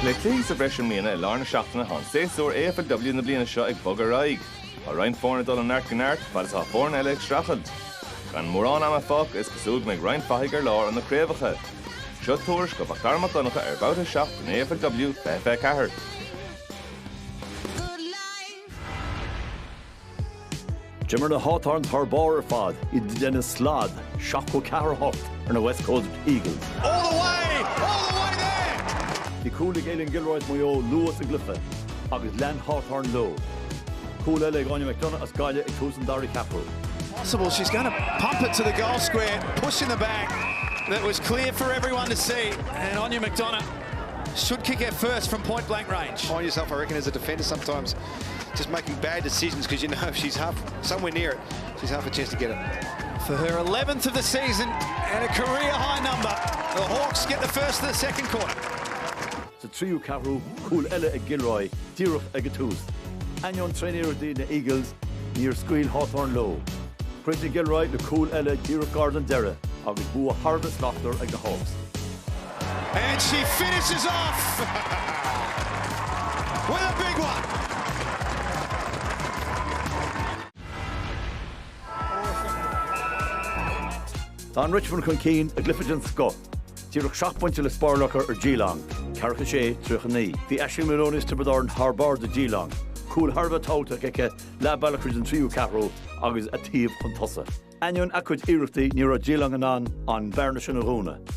Le cluichí sa bhreis i mbliana, i lár na seachtaine tá an séasúr AFLW na bliana seo ag bogadh ar aghaidh. Tá roinnt foirne ag dul ó neart go neart, fad is atá foirne eile ag streachailt. Gan mórán ama fágtha, is cosúil go mbeidh roinnt fathaigh ar lár ó na craobhacha. Seo tuairisc ó Mhacdara Mac Donncha ar Bhabhta 7 den AFLW, 24. D'imir na Hawthorns thar barr ar fad i gcoinne na Slad, 74, 8, ar na West Coast Eagles. All the way! All the way there! Bhí cúl ag Aileen Gilroy as Maigh Eo luath sa gcluiche agus lean Hawthorn leo. Cúl eile ag Áine McDonagh as Gaillimh ag tús an dara ceathrú. possible. She's going to pump it to the goal square, push in the back. That was clear for everyone to see. And Anya McDonagh should kick it first from point blank range. Find yourself, I reckon, as a defender sometimes. just making bad decisions because you know if she's half somewhere near it she's half a chance to get it. For her eleventh of the season and a career high number, the Hawks get the first of the second quarter. Sa tríú ceathrú cúl eile ag Gilroy díreach ag an tús, ainneoin tréaniarrachtaí na Eagles, níor scaoil Hawthorn leo. Chríochnaigh Gilroy le cúl eile díreach gar don deireadh agus bua thar a bheith slachtmhar ag na Hawks. And she finishes off with a big one! Tháinig Richmond chun cinn i gcluiche den scoth. Díreach seacht bpointe le spáráil acu ar Geelong, 46, 39. Bhí Aishling Moloney as Tiobraid Árann thar barr do Geelong, cúl thar a bheith tábhachtach aici leath bealach tríd an tríú ceathrú agus a taobh chun tosaigh. Ainneoin a cuid iarrachtaí ní raibh Geelong in ann an bhearna sin a dhúnadh.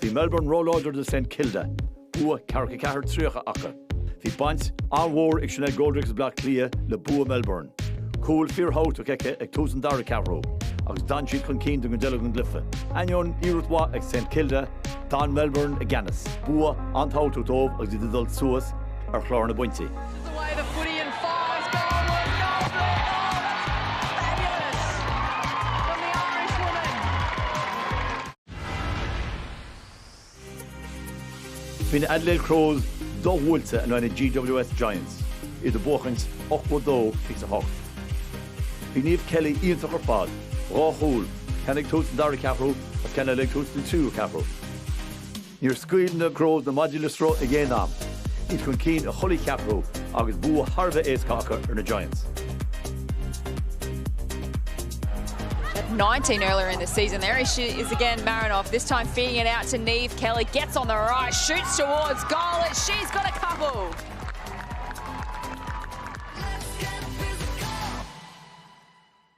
Bhí Melbourne róláidir do Saint Kilda, bua 44, 30 acu. Bhí baint an-mhór ag Sinéad Goldrick as Bleá Cliath le bua Melbourne. Cúl fíorthábhachtach aici ag tús an dara ceathrú agus d'fhan siad chun cinn don gcuid eile den gcluiche. Ainneoin iarracht mhaith ag Saint Kilda, d'fhan Melbourne i gceannas. Bua an-tábhachtach dóibh agus iad ag dul suas ar chlár na bpointí. Bhí na Adelaide Crows do-bhuailte in aghaidh na GWS Giants, iad ag buachaint 82, 28. Bhí Niamh Kelly iontach ar fad, dhá chúl, ceann ag tús an dara ceathrú agus ceann eile ag tús an tríú ceathrú. Níor scaoil na Crows na maidí le sruth ag aon am, iad chun cinn i chuile cheathrú agus bua thar a bheith éasca acu ar na Giants. At 19 earlier in the season, there she is again, Marinoff, this time feeding it out to Niamh Kelly, gets on the right, shoots towards goal, and she's got a couple.